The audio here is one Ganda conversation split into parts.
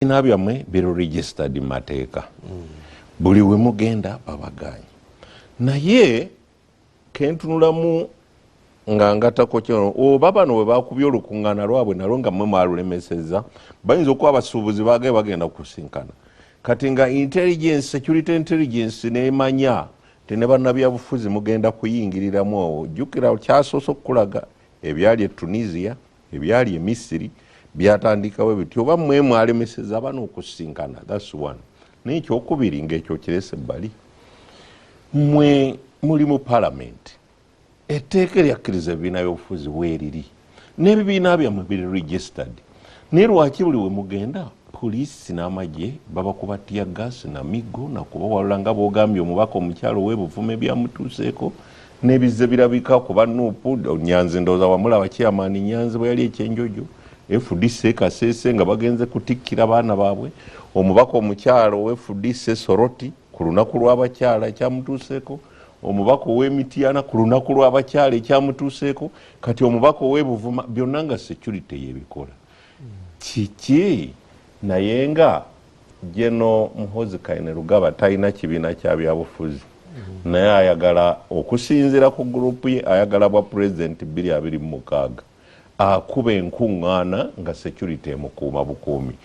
ebibiina byammwe biri registered mu mateeka mm. buli we mugenda babagaanyi naye kentunulamu nga ngatako kino oba bano bwe bakubye olukuŋŋaana lwabwe nalwo nga mwe mwalulemesezza bayinza okuba abasuubuzi baagaye bagenda kusinkana kati nga intelligence security intelligence nemanya ti ne bannabyabufuzi mugenda kuyingiriramu owo jjukira kyasoose okukulaga ebyali e tunisia Ebyali e Misiri byatandikawo biti oba mwe mwalemeseza abana okusinkana that's one naye ekyokubiri ngaekyo kirese bali mwe muli mu palamenti etteeka eryakkiriza ebibiina byobufuzi weeriri n'ebibiina byammwe biri registered naye lwaki buli wemugenda poliisi n'amagye babakuba tiya gaasi na miggo nakubawalula nga bwogambye omubaka omukyalo webuvume byamutuuseeko Nebizze birabika kuba nup nyanzi ndowooza wamulaba chairman nyanzi bweyali ekyenjojo fdc ekasese nga bagenze kutikkira baana baabwe omubaka omukyala owe fdc soroti ku lunaku lw'abakyala ekyamutuuseeko omubaka ow'emityana ku lunaku lw'abakyala ekyamutuuseeko kati omubaka ow'ebuvuma byonna nga security yebikola kiki naye nga General Muhoozi Kainerugaba talina kibiina kya byabufuzi naye ayagala okusinziira ku gurupu ye ayagala bwa pulezidenti bbiri abiri mu mukaaga akuba enkuŋŋaana nga security emukuuma bukuumi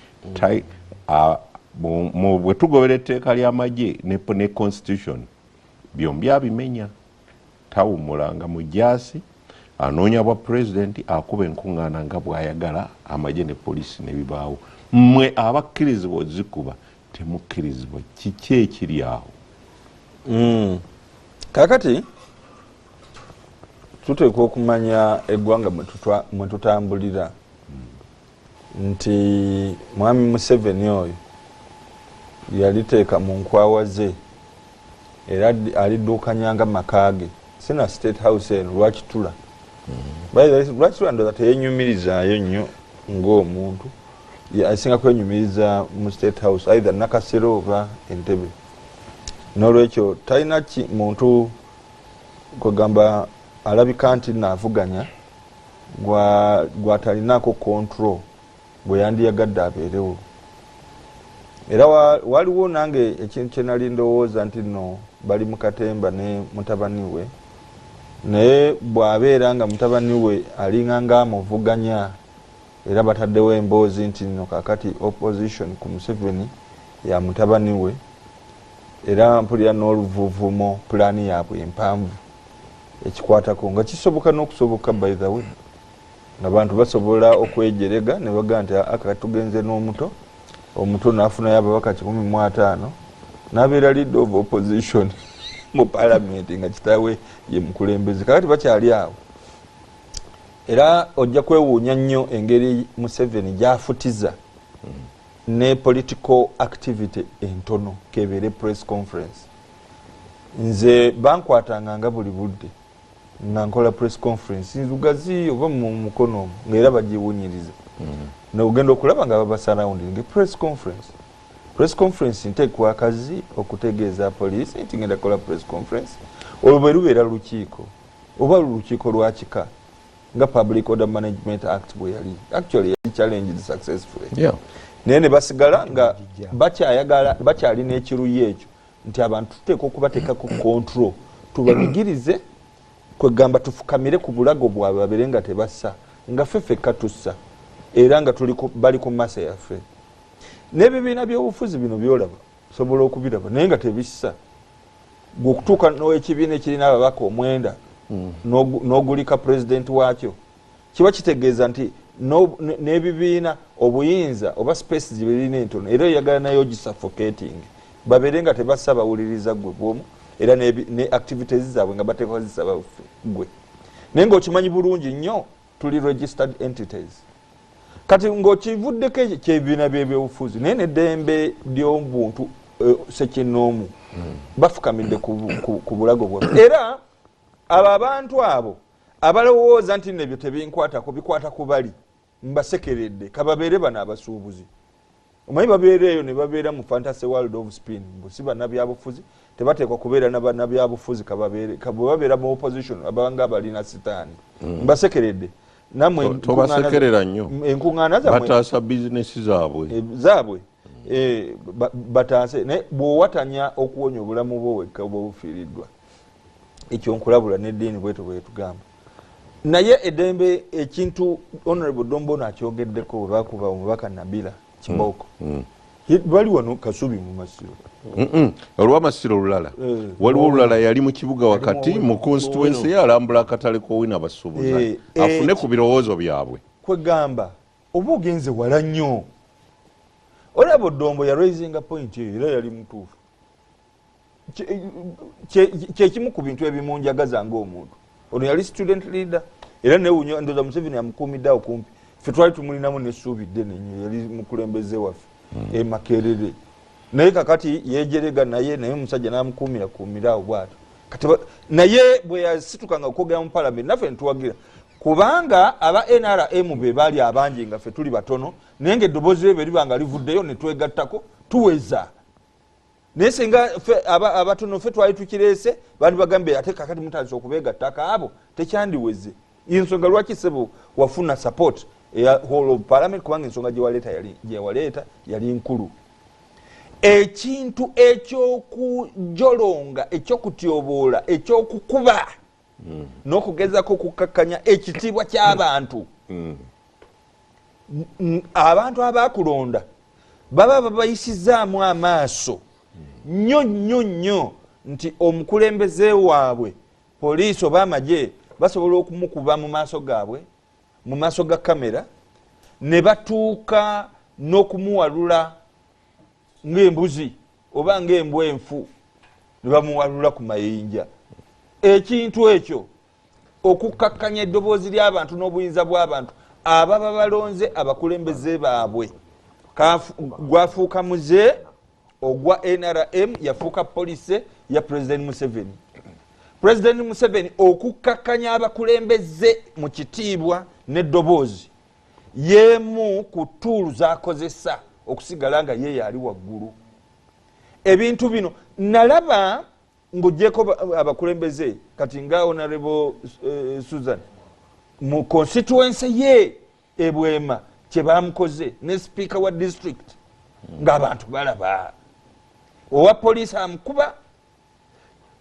bwe tugobera etteeka ly'amagye ne constitution byombi abimenya. Tawummula nga mujaasi, anoonya bwa pulezidenti, akuba enkungaana nga bw'ayagala, amagye ne poliisi ne bibaawo. Mmwe abakkirizibwa ozikuba temukkirizibwa, kiki ekiri awo? Mm. Kakati tuteekwa okumanya eggwanga mwe tutambulira. nti mwami museveni oyo yaliteeka mu nkwawa ze era aliduukanya nga maka ge sina state house eno lwakitula mm-hmm. lwakitula ndoza teyenyumirizaayo nnyo ngaomuntu asinga kwenyumiriza mu state house either nakasera oba entebe nolwekyo talina ki muntu kwegamba alabika nti navuganya gwatalinaako control gwe yandiyagadde abeerewo era waliwo nange ekintu kyenali ndowooza nti no bali mukatemba ne mutabani we naye bwabeera nga mutabani we alinga nga amuvuganya era bataddewo emboozi nti no kakati opposition ku museveni ya mutabani we era mpulira n'oluvuvumo pulaani yaabwe empanvu ekikwatako nga kisoboka n'okusoboka by the way nga bantu basobola okwejerega ne bagaa nti aka tugenze n'omuto omuto nafunayo ababaka kikumi mu ataano nabeera leader of opposition mu palamenti nga kitawe ye mukulembeze kakati bakyali awo era ojja kwewuunya nnyo engeri museveni gyafutiza ne political activity entono kebeere press conference nze bankwatanga nga buli budde nga nkola press conference nzugazi oba mu mukono omu nga era bagiwunyiriza mm-hmm. nogenda okulaba nga babasarawundinge press conference press conference nteekwa akazi okutegeeza poliisi nti ngenda kola press conference olwo bwe lubeera lukiiko oba lukiiko lwakika nga public order management act bwe yali actually yali challenged successfully naye ne basigala nga bakyayagala bakyalina ekiruyi ekyo nti abantu tuteeka okubateeka ku control tubanyigirize kwegamba tufukamire ku bulago bwabwe babere nga tebassa nga fe fekka tussa era nga bali ku masa yaffe n'ebibiina by'obufuzi bino byolaba sobola okubiraba naye nga tebissa gwe okutuuka n'ekibiina ekirina ababaka omwenda hmm. n'ogulika pulezidenti waakyo kiba kitegeeza nti n'ebibiina obuyinza oba space gye birina entono era oyagala nayo ogisuffocating babeere nga tebassa bawuliriza gwe bwomu era ne activities zaabwe nga bateekwa zisaba gwe naye ng'okimanyi bulungi nnyo tuli registered entities kati ng'okivuddeko ekyo kyebibiina by'ebyobufuzi naye neddembe ly'obuntu eh, sekinnoomu hmm. bafukamidde ku bulago bwaffe era abo abantu abo abalowooza nti nebyo tebinkwatako bikwata kubali mbasekeredde kababeere bano abasuubuzi omanyi babeera eyo nebabeera mu fantasy world of spin busi banabyabufuzi tebateekwa kubeera nabanabyabufuzi bwebabeera mu opposition abanga abalina sitaani hmm. mbasekeredde namwe enkuŋaana zaabwe eh, Eh, bataase naye bwowatanya okuwonya obulamu bwo wekka oba obufiiriddwa ekyo nkulabula neddiini bwetyo bwetugamba naye edembe ekintu honorable dombono akyogeddeko webakuba omubaka nabila kibooko mm, mm. bali wano kasubi mu masiro olwamasiro olulala eh, waliwo olulala yali mu kibuga wakati mu constituensi ye alambula akatale kowina basuubuza eh, afune ku birowoozo byabwe kwegamba Oba ogenze wala nnyo. Olaba Odongo ya raisinga point eyo era yali mutuufu. Kyekimu ku bintu ebimunjagaza ng'omuntu. Ono yali student leader era newunya ndoza Museveni amukuumidde awo kumpi. Ffe twali tumulinamu n'essuubi ddene nnyo yali mukulembeze waffe hmm. e Makerere. Naye kakati yejerega naye naye omusajja n'amukuumira kuumira awo bw'atyo. Kati naye bwe yasitukanga okwogera mu palamenti naffe ne tuwagira. kubanga aba nrm be bali abangi nga fe tuli batono naye nga eddoboozi lye beriba nga livuddeyo ne twegattako tuweza naye singa abatono fe twali tukireese bandi bagambye ate kakati mutandisa okubeegattako abo tekyandiweze ensonga lwaki sebo wafuna support eya hall of parliament kubanga ensonga gyewaleeta gyewaleeta yali nkulu ekintu ekyokujolonga ekyokutyoboola ekyokukuba mm. n'okugezako okukkakkanya ekitiibwa ky'abantu mm. abantu abaakulonda baba babayisizaamu amaaso nnyo nnyo nnyo nti omukulembeze waabwe poliisi oba amagye basobola okumukuba mu maaso gaabwe mu maaso ga kamera ne batuuka n'okumuwalula ngaembuzi oba ngaembwa enfu nebamuwalula ku mayinja ekintu ekyo okukkakkanya eddoboozi lyabantu n'obuyinza bwabantu ababa balonze abakulembeze baabwe gwafuuka muze ogwa nrm yafuuka polise ya president museveni president museveni okukkakkanya abakulembeze mu kitiibwa n'eddoboozi yeemu ku tuulu zakozesa okusigala nga ye yaali waggulu ebintu bino nalaba ngaogyeko abakulembeze kati nga onarebo eh, susan mu constituency ye ebwema kyebamukoze ne sipiika wa district ngaabantu balaba owa poliisi amukuba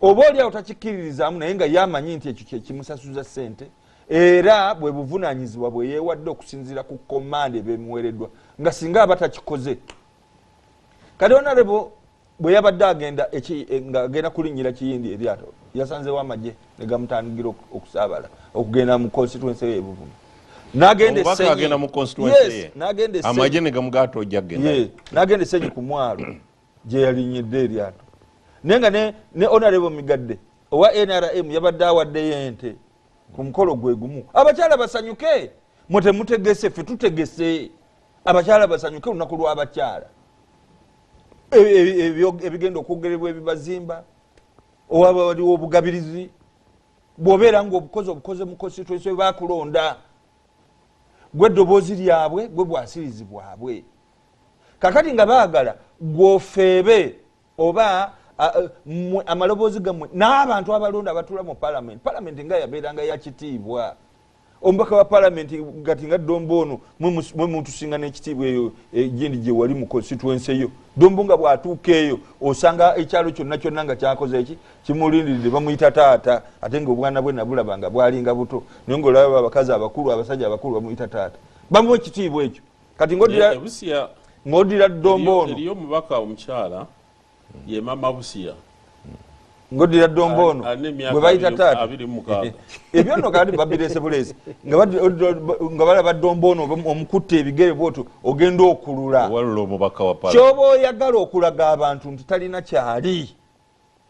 oba oliawo takikkiririzaamu naye nga ye amanyi nti ekyo kyekimusasuza sente era bwe buvunanyizibwa bwe yeewadde okusinziira ku komanda ebemuweereddwa nga singa aba takikoze kati onarebo bwe yabadde agenda eh, ngaagenda kulinnyira kiyindi eryato yasanzewo amagye ne gamutandigira okusaabala okugenda mu constituency ye ebuvuma nagenda esenyi ku mwalo gyeyalinyidde eryato naye nga ne onarebo migadde owa nrm yabadde awaddeyo ente ku mukolo gwe gumu abakyala basanyuke mwe temutegese fe tutegese abakyala basanyuke olunaku lw'abakyala e, e, e, ebigenda okwogerebwa ebibazimba owaba waliwo obugabirizi bwobeera nga obukozi obukoze mu constituency bakulonda gwe eddoboozi lyabwe gwe bwasirizi bwabwe kakati nga baagala gwofeebe oba mwe amaloboozi gammwe n'abantu abalonda abatula mu palamenti palamenti nga yabeeranga yakitiibwa omubaka wa palamenti gati nga dombo ono mwe mutusinga n'ekitiibwa eyo egindi eh, gyewali mu konsituense yo dombo nga bw'atuuka eyo osanga ekyalo kyonna kyonna nga kyakoze eki kimulindiridde bamuyita taata ate nga obwana bwe nabulaba nga bwalinga buto naye ngaolaba abakazi abakulu abasajja abakulu bamuyita taata bamuwa ekitiibwa ekyo kati ngodira eh, busia ngodira dombo ono eliyo mubaka omukyala ye mama busia ngodira dombo ono gwe bayita taata ebyo nno kati babirese bulesi nga balaba dombo ono omukutta ebigere bwoto ogenda okulula kyoba oyagala okulaga abantu nti talina kyali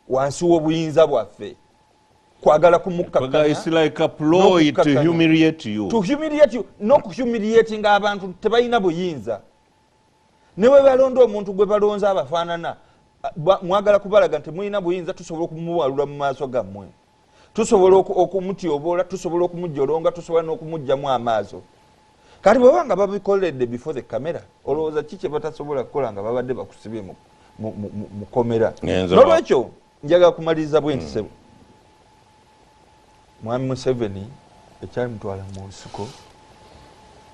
wansi w'obuyinza bwaffe kwagala kumukkakanyaokuhumiliatinga abantu tebalina buyinza ne bwe balonda omuntu gwe balonze abafaanana mwagala kubalaga nti mulina buyinza tusobola okumuwalula mu maaso gammwe tusobola okumutyoboola tusobola okumujolonga tusobola n'okumugjamu amaazo kati bweba nga babikoledde before the camera olowooza ki kyebatasobola kukola nga babadde bakusibye mukomera nolwekyo njaga kumaliriza bwentisebo hmm. mwami museveni mm. ekyamutwala mu nsiko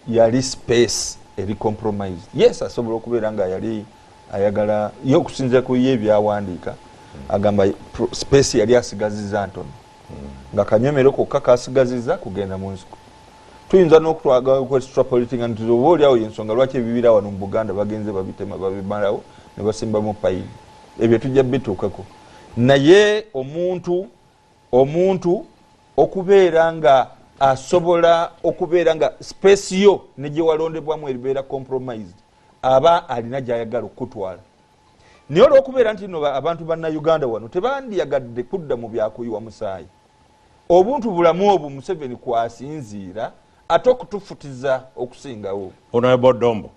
yali space eri compromise yes asobola okubeera nga yali ayagala ye okusinzira ku ye ebyawandiika agamba space yali asigaziza ntono nga kanyomero kokka kasigaziza kugenda mu nsiko tuyinza nokutwagakuextrapolitingantiz oba oliawo yensonga lwaki ebibira wano mu buganda bagenze babitema babimalawo nebasimbamu payini ebyo tujja bituukako naye omuntu omuntu okubeera nga asobola okubeera nga space yo ne gye walondebwamu eribeera compromised aba alina gy'ayagala okukutwala naye olwokubeera nti no abantu bannauganda wano tebandiyagadde kudda mu byakuyiwa musaayi obuntu bulamu obwo museveni kwasinziira ate okutufutiza okusingawo onobodombo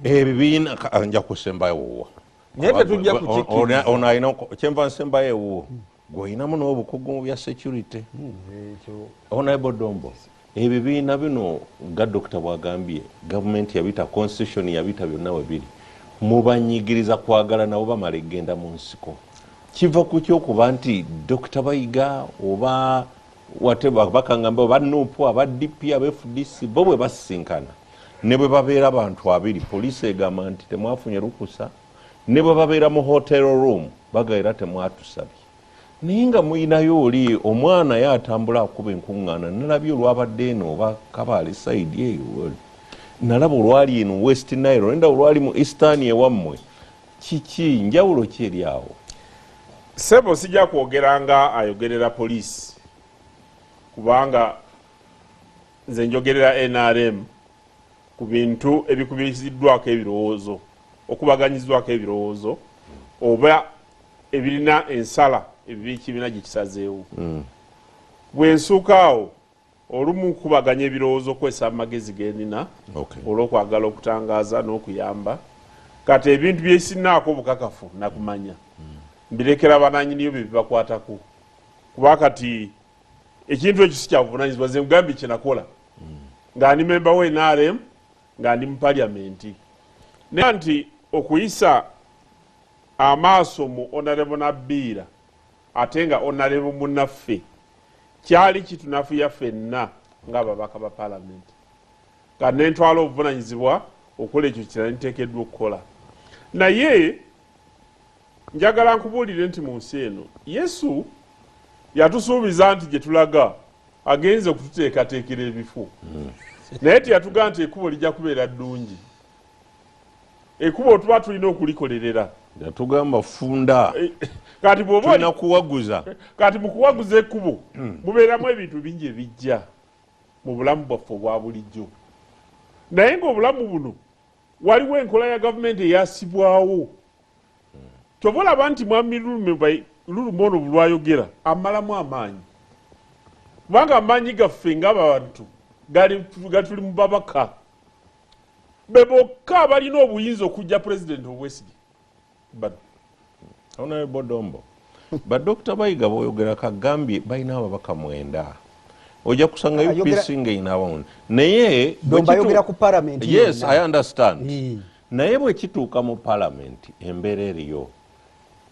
ebibiina nja kusembayo wuwo naye tetujja kukikiriza ono alina kyenva nsembayo ewuwo gwolinamu n'obukugu mu bya security honorable dombo ebibiina bino nga dokita bwagambye gavumenti yabita constitution yabita byonna webiri mubanyigiriza kwagala nabo bamala egenda mu nsiko kiva ku kyokuba nti dokita bayiga oba whatever bakangamba aba nup aba dp aba fdc bo bwe basisinkana ne bwe babeera bantu abiri poliisi egamba nti temwafunye lukusa ne bwe babeera mu hotel room bagaera temwatusabye naye nga muyinayo oli omwana ye atambula akuba enkuŋŋaana nalabye olwabadde eno oba kabaale saidi eyo nalaba olwali eno west nile nenda olwali mu eastern ewammwe Kiki njawulo ki eri awo? Sebo sija kwogera nga ayogerera police kubanga nze njogerera NRM ku bintu ebikubiriziddwako ebirowoozo okubaganyizibwako ebirowoozo oba ebirina ensala ebibikibiina gyekisazeewo mm. bwensuukaawo Olumu kukubaganya ebirowoozo okukozesa amagezi ge nnina olw'okwagala okutangaaza n'okuyamba. Kati ebintu bye sirinaako bukakafu na kumanya mbirekera bannannyiniyo bye bibakwatako kuba kati ekintu ekyo si kya buvunaanyizibwa nze nkugambye kye nakola nga ndi memba wa nrm nga ndi mu palyamenti naye nti okuyisa amaaso mu onarebo nabbiira Ate nga Honarebo munaffe kyali kitunafuya ffenna nga ababaka ba palamenti nga nentwala obuvunanyizibwa okukola ekyo kira ntekeddwa okukola naye njagala nkubuulire nti mu nsi eno yesu yatusuubiza nti gye tulaga agenze okututeekateekera ebifu hmm. naye teyatugamba nti ekubo lijja kubeera ddungi ekubo tuba tulina okulikolerera yatugamba funda eh, kati bwobana kuwaguza kati mukuwaguza ekubo hmm. mubeeramu ebintu bingi ebijja mu bulamu bwaffe obwa bulijjo naye ngaobulamu buno waliwo enkola ya gavumenti eyasibwawo hmm. kyova olaba nti mwami lulume lulume ono bulwayogera amalamu amaanyi kubanga amaanyi gaffe ngaabantu gatuli mubabaka Be bokka abalina obuyinza okujja pulezidenti obwesige bano. Honorable Bodombo, ba Dr. Bayiga boyogera kagambye balina ababaka mwenda. Oja kusanga ah, UPC nga ina abamu. Naye Domba yogera ku parliament. Yes, I understand. Naye bwe kituuka mu parliament embera eriyo.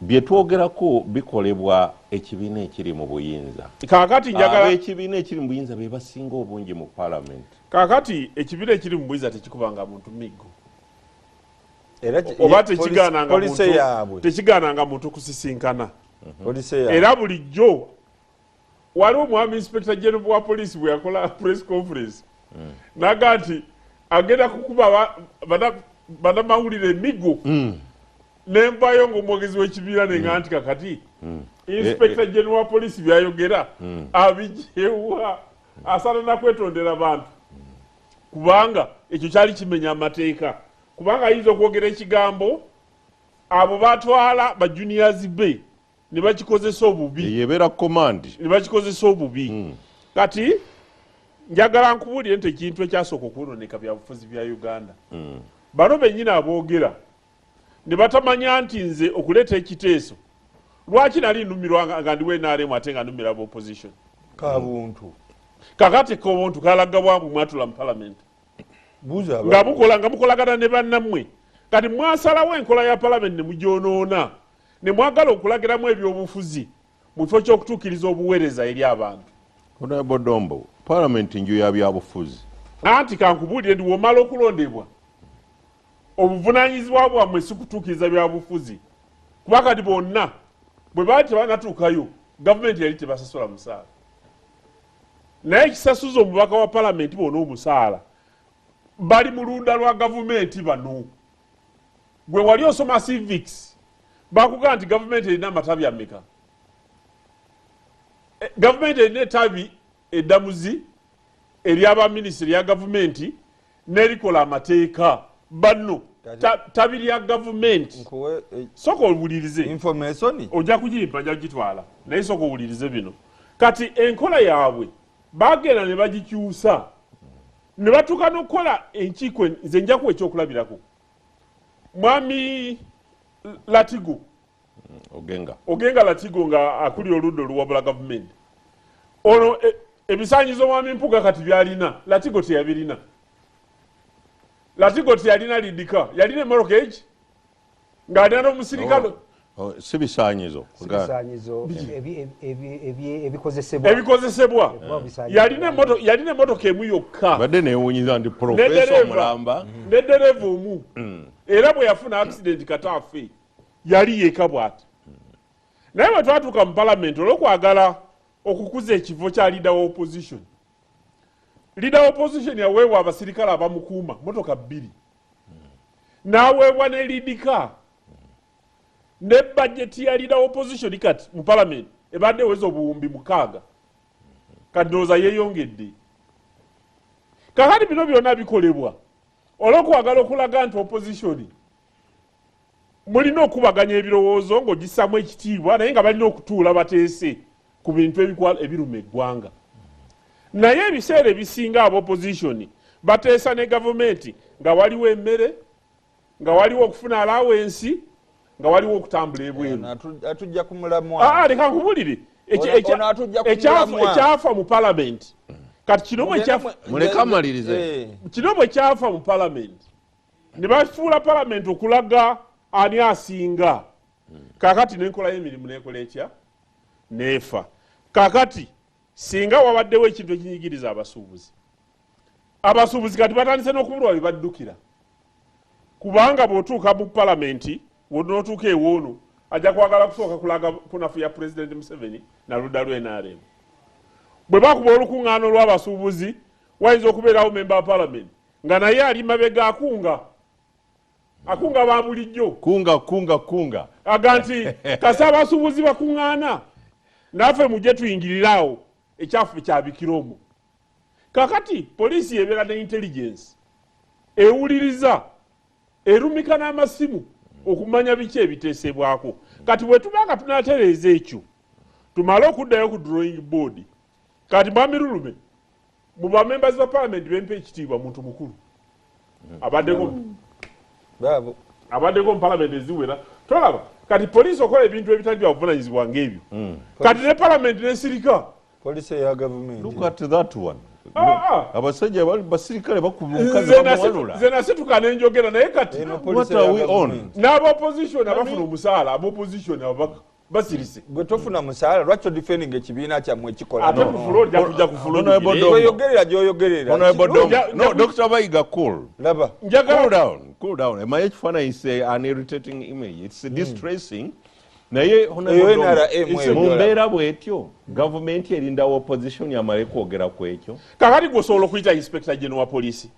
Bye twogerako bikolebwa ekibiina ekiri mu buyinza. Kaakati njagala. Ab'ekibiina ekiri mu buyinza be basinga obungi mu Palamenti. Kaakati ekibiina ekiri mu buyinza tekikubanga muntu miggo. Oba tekigaananga muntu kusisinkana. Mhm. Era bulijjo Waliwo mwami inspector general wa police bwe yakola press conference mm. naga nti agenda kukuba banamawulire emigo mm. nenvayo ngaomwogezi wekibiira nenga mm. nti kakati mm. inspector eh, eh. general wa police byayogera mm. abijewa asana nakwetondera bantu mm. kubanga ekyo kyali kimenya amateeka kubanga ayinza okwogera ekigambo abo batwala bajuniors be ne bakikozesa obubi eyo ebeera command ne bakikozesa obubi hmm. kati njagala nkubuulire nti ekintu ekyasooka okwonooneka byabufuzi bya uganda hmm. bano bennyini aboogera ne batamanya nti nze okuleeta ekiteeso lwaki nali numirwa nga ndiwo enaremu ate nga numira ba opposition kabuntu kakati kobuntu kalaga bwambu mwatula mu parliament nga mukola nga mukolagana ne bannammwe kati mwasalawo enkola ya parliament ne mugyonoona ne mwagala okulagiramu ebyobufuzi mu kifo ky'okutuukiriza obuweereza eri abantu. Honorable Dombo, Palamenti nju ya byabufuzi. Anti kankubuulire ndi womala okulondebwa obuvunaanyizibwa bwammwe si kutuukiriza byabufuzi kuba kati bonna bwe baali tebanatuukayo gavumenti yali tebasasola musaala naye ekisasuza omubaka wa palamenti bona omusaala bali mu lunda lwa gavumenti bano gwe wali osoma civics bakugamba nti gavumenti erina amatabi ameka eh, gavumenti erina etabi eddamuzi eryabaminisita erya gavumenti nerikola amateeka banno tabi lya gavumenti eh, soka owulirize ojja kugimpa nja kugitwala naye soka owulirize bino kati enkola yaabwe bagenda ne bagikyusa ne batuuka n'okukola enkiiko en- nze njakuwa ekyokulabirako mwami latigo ogenga ogenga latigo nga akulira oludda oluwabula gavumenti ono e- ebisanyizo mwami mpuga kati byalina latigo teyabirina latigo teyalina lidika yalina emorogeji ng'alina n'omusirikale oh, oh, si bisaanyizo ebikozesebwa yalina emotoka emu yokka badde newunyiza nti profesa omulamba ne dereva omu mm. era bwe yafuna akisidenti kataafe yali yeka bwati naye bwe twatuuka mu palamenti olwokwagala okukuza ekifo kya leader wa opposition leader wa opposition yaweebwa abasirikale abamukuuma motoka bbiri n'aweebwa ne lead car ne budget ya leader opposition kati mu parliament ebadde eweza obuwumbi mukaaga kati ndowooza yeeyongedde kakati bino byonna bikolebwa olwokuwagala okulaga nti opposition mulina okukubaganya ebirowoozo ng'ogissamu ekitiibwa naye nga balina okutuula bateese ku bintu ebikwala ebiruma eggwanga naye ebiseera ebisinga aba opozisioni bateesa ne gavumenti nga waliwo emmere nga waliwo okufuna alawensi nga waliwo okutambula ebweru leka nkubulire ekyafa mu palamenti kati kino bwekyafa mu palamenti ne bafuula palamenti okulaga ani asinga kakati nenkola y'emirimu nekola etya neefa kakati singa wabaddewo ekintu ekinyigiriza abasuubuzi abasuubuzi kati batandise n'okubulwa bye baddukira kubanga bw'otuuka mu palamenti n'otuuka ewoono ajja kwagala kusooka kulaga kunafu ya pulezidenti museveni na ludda lwe nrm bwe bakuba olukuŋŋaana olw'abasuubuzi wayinza okubeerawo memba wa palamenti Nga naye ali mabega akunga. Akunga ba bulijjo. Kunga kunga kunga. Aga nti kasa abasuubuzi bakung'aana naffe mujje tuyingirire awo ekyafu kyabikira omwo. Kakati poliisi yebeera ne intelligence ewuliriza erumika n'amasimu okumanya biki ebiteesebwako. Kati bwe tuba nga tunatereeza ekyo tumale okuddayo ku drawing board. Kati Mwami Lulume Mu ba members ba parliament bempa ekitiibwa muntu mukulu abaddeko baabo abaddeko mu parliament eziwera tolaba kati poliisi okola ebintu ebitali bya buvunanyizibwa ng'ebyo hmm. kati ne parliament nesirika poliisi eya gavumenti look at that one ah, ah. abasajja basirikale bakuba omukazi bamuwalula nze nasituka nenjogera naye kati what are we on n'aba opposition abafuna omusaala aba opposition ababaka basirise gwe tofuna musaala lwaki odifendinga ekibiina kyammwe ekikolaoyogerera gyoyogereranodoa bayiga cool laba cool down cool down emaye ekifaananyi is an irritating image its mm. distressing mm. naye mu mbeera bwetyo gavumenti erindawo opposition amale kwogera ku ekyo kakati gwosobola okuyita inspector geno wa poliisi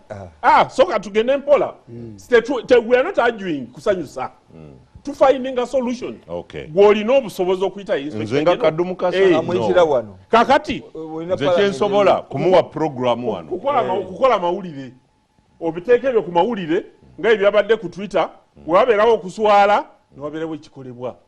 ah, ah soka tugende mpola mm. we are not arguing kusanyusa mm. to finding a solution okay gwolina obusobozi okuyita nze nga kadumu kasa hey, no. wano kakati nze kyensobola kumuwa program wano kukola hey. kukola mawulire obiteeka ebyo ku mawulire nga ebyabadde ku twitter mm. wewabeerawo okuswala newabeerawo ekikolebwa mm.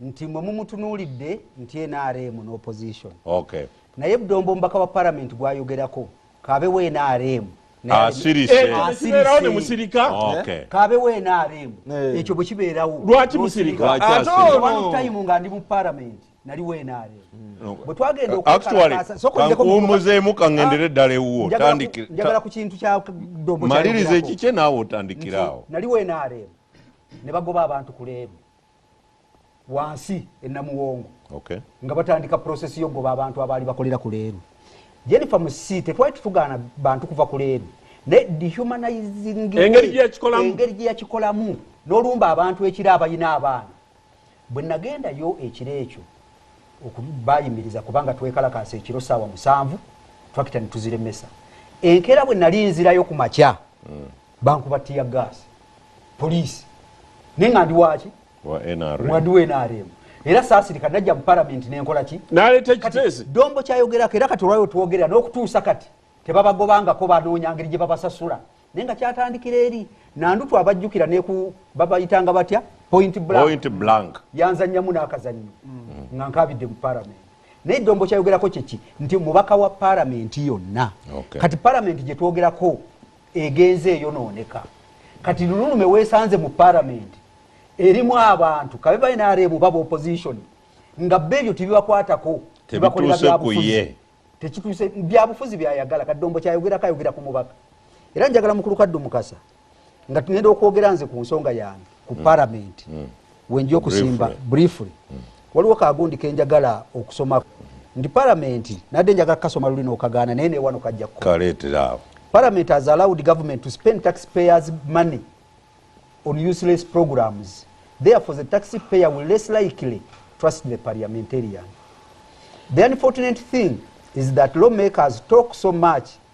nti mwe mumutunuulidde nti nrm ne opposition okay. naye budombo omubaka wa parliament gwayogerako kabe wa nrm kabe wa nrm ekyo bwekibeerawo lwaki musirika nga ndi mu parliament nali wa nrm mm. bwetwagenda okuwumuzemu kaŋendere eddala ewuwo njagala ku kintu kya dombo maliriza ekikye naawe otandikiraawo nali wa nrm ne bagoba abantu ku leebu wansi enamuwongo okay. nga batandika process yogoba abantu abaali bakolera ku leeru jenifa musi tetwali tutugaana bantu kuva ku leeru naye dehumanizingengeri gyeyakikolamu nolumba abantu ekiro abalina abaana bwe nagendayo ekiro ekyo okubayimiriza kubanga twekalakaasa ekiro saawa musanvu twakita netuziremesa enkeera bwe nali nzirayo ku makya mm. bankuba tiya gas police naye nga ndi waki mwadi wa nrm era saasirika najja mu palamenti nenkola ki dombo kyayogerako era kati olwayo twogerera n'okutuusa kati tebabagobangako banoonya ngeri gye babasasula naye nga kyatandikira eri nandutu abajjukira neku babayitanga batya point blank yanzanyamu n'akazannyo mm. nga nkabidde mu palamenti naye dombo kyayogerako kyeki nti mubaka wa palamenti yonna kati palamenti gyetwogerako egenze eyonooneka kati lululume weesanze mu palamenti erimu abantu kabe bainareemu baba opposition nga be ebyo tebibakwatako tebakolera byabufuzi tekituuse byabufuzi byayagala kaddombo kyayogerako ayogera ku mubaka era njagala mukulu kaddu mukasa nga tugenda okwogera nze ku nsonga yange ku mm. paramenti mm. wenja okusimba briefly mm. waliwo kagundi kenjagala okusoma ndi paramenti nadde njagala kasoma luli nokagaana naye newano kajja kukoleeteraawo paramenti has allowed government to spend tax payers money on useless programs therefore the tax payer will less likely trust the parliamentarian the unfortunate thing is that lawmakers talk so much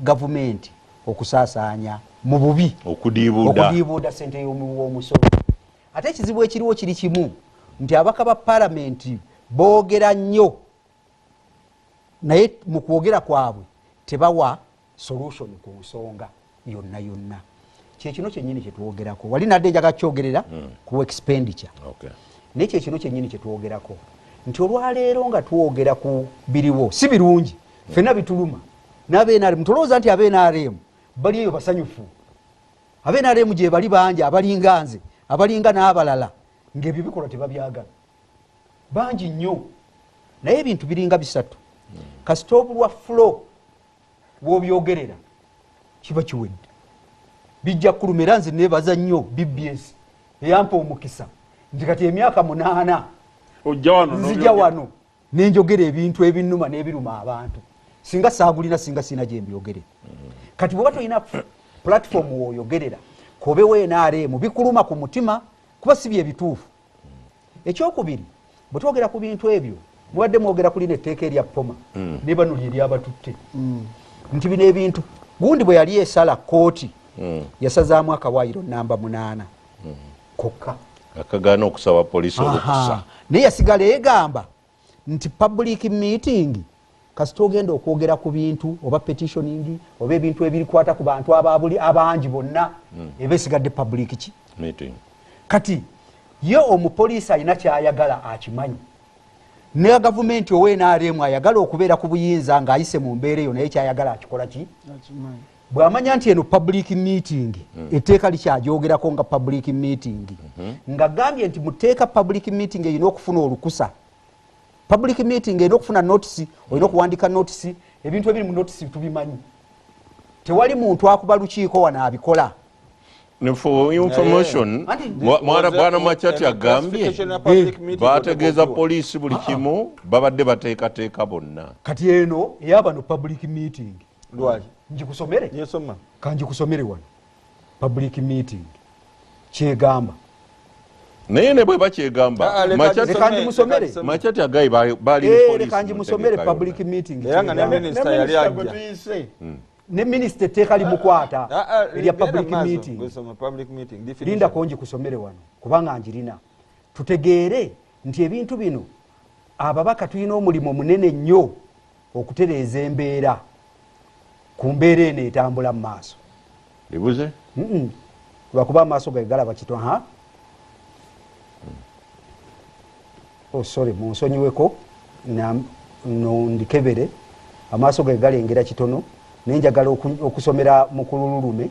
gavumenti okusaasaanya mu bubi okudiibuuda sente w'omusolo ate ekizibu ekiriwo kiri kimu nti abaka ba palamenti boogera nnyo naye mu kwogera kwabwe tebawa solution ku nsonga yonna yonna kyekino kyenyini kyetwogerako wali nadde njaga kyogerera hmm. ku expenditure naye kyekino kyenyini kyetwogerako nti olwaleero nga twogera ku biriwo si birungi hmm. fenna bituluma nabenrm tolowooza nti abenrm bali eyo basanyufu abenrm gyebali bangi abalinga nze abalinga n'abalala ngaebyo bikolwa tebabyagala bangi nnyo naye ebintu biringa bisatu kasita obulwa flo wobyogerera kiba kiwedde bijja kuluma era nze nebaza nnyo bbs eyampa omukisa nti kati emyaka munaana nzija wano nenjogera ebintu ebinuma nebiruma abantu singa sagulina singa sina gyembiyogere kati bwoba tolina platform woyogerera kobewo nrm bikuluma ku mutima kuba si byebituufu ekyokubiri bwetwogera ku bintu ebyo mubadde mwogera kulina etteeka erya poma mm. nebanuli eryabatutte mm. nti bino ebintu gundi bwe yali esala kooti mm. yasazaamu akawayiro namba munaana kokka akagaana okusaba poliisi olukusa naye yasigala egamba nti public meeting kasita ogenda okwogera ku bintu oba petitioning oba ebintu ebirikwata ku bantu ababuli abangi bonna hmm. eba esigadde public ki kati ye omupoliisi alina kyayagala akimanyi ne gavumenti owenaremu ayagala okubeera ku buyinza ng'ayise mu mbeera eyo naye kyayagala akikola ki bwamanya nti eno public meeting mm. etteeka likyagyogerako nga public meeting mm -hmm. nga gambye nti muteeka public meeting erina okufuna olukusa public meeting erina okufuna notisi olina okuwandika notisi ebintu ebiri mu notisi tubimanyi tewali muntu akuba lukiiko wano abikola mwana makyati agambye bategeeza poliisi buli ah. kimu babadde bateekateeka bonna kati eno eyabano public meeting lwaki njikusomere yesoma kanjikusomere wano public meeting kyegamba naye ne bwe bakyegamba ah, macati agayi balileka eh, njimusomere public meeting ne minisita etteeka limukwata ah, ah, erya public meeting linda konji kusomere wano kubanga njirina tutegeere nti ebintu bino ababaka tulina omulimu munene nnyo okutereeza embeera ku mbeera eno etambula mu maaso ebuze lwakuba amaaso ge galaba kito ha hmm. o oh, sorry munsonyiweko nondikebere amaaso ge galengera kitono naye njagala okusomera mukulululume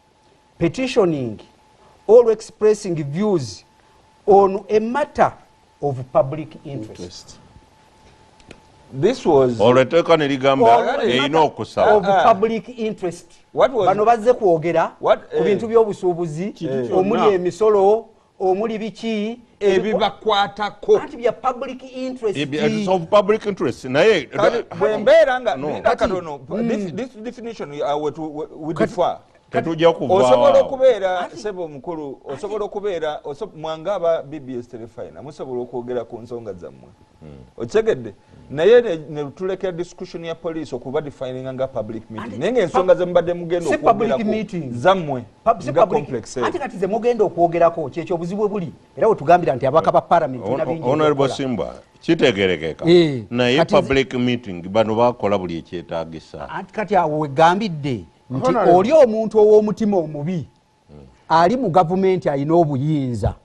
petitioning or expressing views on a matter of public interest this was olwo etteeka ne ligamba erina okusaba of ah. public interest bano bazze kwogera ku eh, bintu by'obusuubuzi omuli emisolo omuli biki ebibakwatako naye bwembeera nga katono mm. this definition uh, wetufa tetujja kuvaosobola okubeera sebo omukulu osobola okubeera mwanga aba bbs telefina musobola okwogera ku nsonga zammwe hmm. okitegedde naye netulekera discussion ya police okuba defininga nga public meeting naye ngaensonga zemubadde mugenda okwogerakzammwe nga complex ate kati zemugenda okwogerako kyekyo obuzibu buli era wetugambira nti abaka ba parliament honorable simba kitegerekeka eh, naye public meeting bano bakola buli ekyetagisa kati awo wegambidde nti oli omuntu ow'omutima omubi ali mu gavumenti alina obuyinza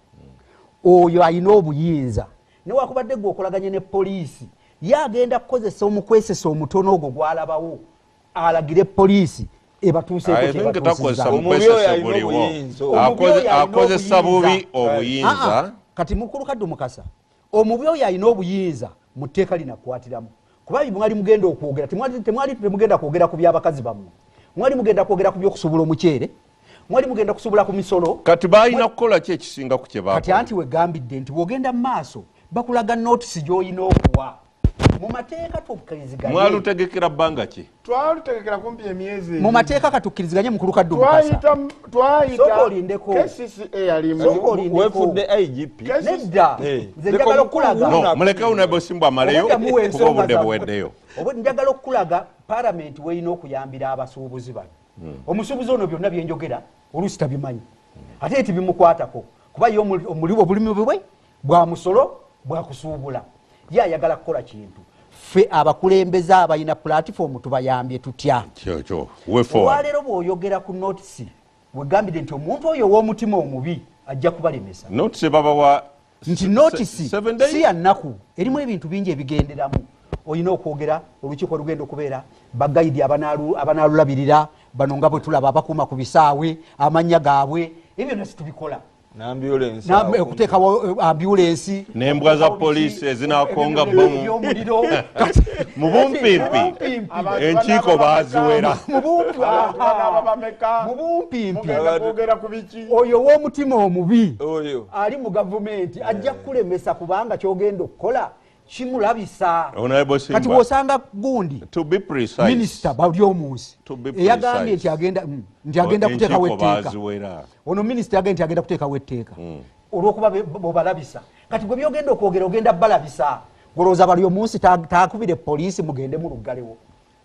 oyo alina obuyinza newakubadde gwe okolaganye ne poliisi ye agenda kukozesa omukwesesa omutono ogwo gwalabawo alagire poliisi ebatuusekoakozesa bubi obuyinza ah, ah. kati mukulu kaddu mukasa omubi oyo alina obuyinza mu tteeka linakukwatiramu kuba mwali mugenda okwogera temwali temugenda kwogera ku byabakazi bammwe mwali mugenda kwogera ku byokusubula omuceere mwali mugenda kusubula ku misolo kati balina kukola ki ekisinga ku kyebakati anti wegambidde nti bwogenda mu maaso bakulaga notisi gyolina okuwa mu mateeka tukkiriziganye mwalutegekera bbanga ki twalutegekera kumpi emyezi mu mateeka katukkiriziganye mu kuluka ddu twayita twayita olindeko kcca yalimu wefudde igp nedda eh. nze njagala okulaga no muleke unebo simbu amaleyo kuba obudde buweddeyo obudde njagala okulaga parliament weyina okuyambira abasuubuzi bano hmm. omusuubuzi ono byonna byenjogera oluusi tabimanyi ate eti bimukwatako kuba ye omuli obulimi bwe bwa musolo bwa kusuubula ye ayagala kukola kintu ffe abakulembeze abalina pulatifoomu tubayambye tutya olwaleero bw'oyogera ku notisi wegambidde nti omuntu oyo ow'omutima omubi ajja kubalemesa notisi babawa nti notisi si ya nnaku erimu ebintu bingi ebigenderamu olina okwogera olukiiko lugenda okubeera bagayidi abanaalulabirira bano nga bwe tulaba abakuuma ku bisaawe amannya gaabwe ebyo byonna situbikola okuteekawo eh, ambulensi nembwa za poliisi ezinakonga bomu mu bumpimpi enkiiko baziwera mu bumpimpi oyo ow'omutima omubi ali mu gavumenti ajja kukulemesa kubanga kyogenda okukola kimulabisa kati wosanga gundi minisita bali omunsi eyagambye nti agenda mm, nti agenda oh, kuteekawo etteeka ono minisita yagambye nti agenda kuteekawo etteeka mm. olwokuba bobalabisa kati gwe byogenda okwogera ogenda balabisa golowooza bali omunsi takubire poliisi mugende muluggalewo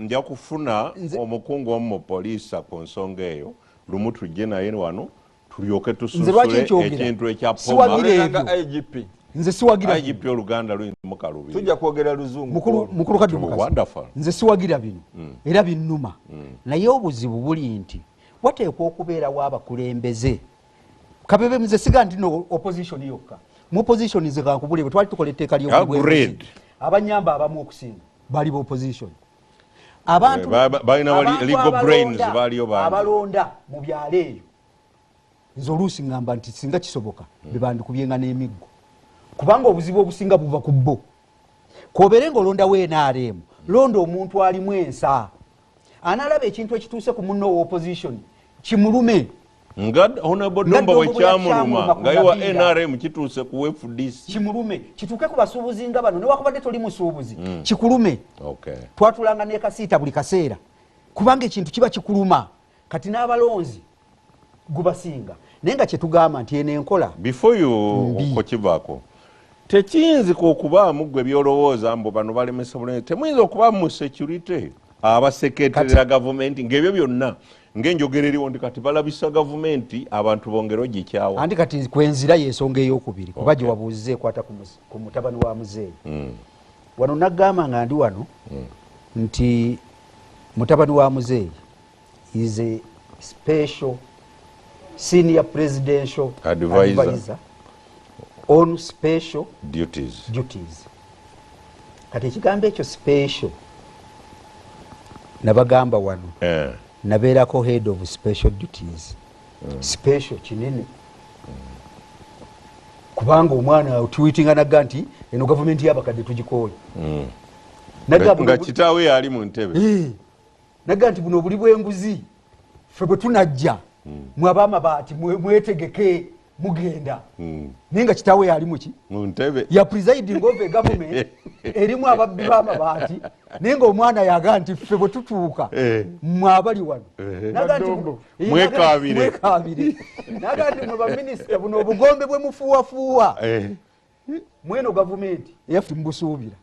nja kufuna omukungu omu mu poliisa ku nsonga eyo lumu tujje naye wano tulyoke tusunsule ekintu ekya pomagp nze siwagira igp oluganda luyimu kalubi tujja kwogera luzungu mukulu mukulu kadi wonderful nze siwagira bino mm. era binuma mm. naye obuzibu buli nti wateekwa okubeera wa bakulembeze kabebe mze siga nti no opposition yokka mu opposition ze kankubule bwe twali tukola etteeka ly'obulwezi abanyamba abamu okusinga bali bopposition abantubaabalonda eh, mu byalo eyo nze oluusi ngamba nti singa kisoboka hmm. bebandikubyenga n'emiggo kubanga obuzibu obusinga buva ku bo kobeere nga olondawo nrm londa omuntu alimu ensa anaalaba ekintu ekituuse ku munno owa opposition kimulume nga honable domba wekyamuluma nga iwa nrm kituuse ku wefudisi kimulume kituuke ku basuubuzi nga bano newakubadde toli musuubuzi mm. kikulume twatulanga nekasiita buli kaseera kubanga ekintu kiba kikuluma kati n'abalonzi gubasinga naye nga kyetugamba nti eno enkola bifuyu okukivako tekiyinzika okubaamu gwe byolowooza mbu bano balemesa bulungi temuyinza okuba mu security abaseketerera gavumenti ngaebyo byonna ngaenjogera eriwo nti kati balabisa gavumenti abantu bongere ogikyawa anti kati kwenzira yensonga eyokubiri kuba okay. gyewabuuziza ekwata ku mutabani wa muzeeyi mm. wano nagamba nga ndi wano mm. nti mutabani wa muzeeyi is a special senior presidential advisor, advisor on special duties, duties. kati ekigambo ekyo special nabagamba wano eh. nabeerako head of special duties mm. special kinene mm. kubanga omwana otuwitinga naga nti eno gavumenti yabakadde tugikooye mm. nga kitaawe yaali mu ntebe eh. naga nti buno obuli bwenguzi fe bwetunajja hmm. mwabamabaati mwetegeke mugenda hmm. naye nga kitaawe yali muki muntebe ya presiding of a government erimu ababbi bamabaati naye nga omwana yaga nti ffe bwe tutuuka eh. mwabali wano eh. mwekabire naga nti mwe baminisita buno obugombe bwe mufuuwafuuwa eh. mweno gavumenti eyaffe mubusuubira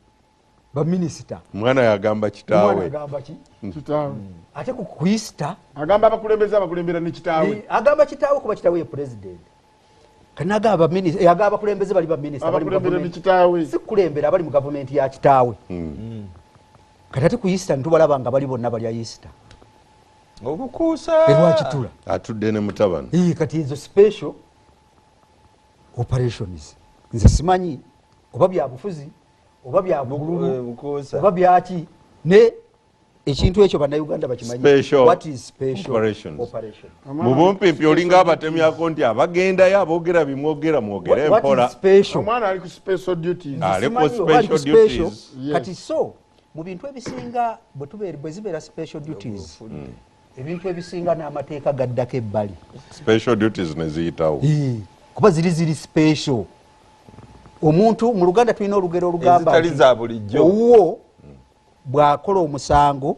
baminisita omwana yagamba kitaawe ate kuista agamba abakulembeze abakulembera ne kitaawe agamba kitaawe kuba kitaawe ye pulezidenti kanagamba minisita yagamba abakulembeze bali baminisita si kulembera abali mu gavumenti ya kitaawe hmm. kati ate kuista nitubalaba nga bali bonna balya isita obukuusa erwakitula atudde ne mutabani kati ezo special operations nze simanyi oba byabufuzi oba byabululu eh, oba byaki ne ekintu ekyo banauganda bakimanyimubumpimpi olinga abatemyako nti abagendayo abogera bimwogera mwogere mporakati so mu bintu ebisinga bwezibeera special duties mm. ebintu ebisinga n'amateeka gaddako ebbali special duties neziyitawo kuba ziri ziri special omuntu mu luganda tulina olugero olugamba owuwo bw'akola omusango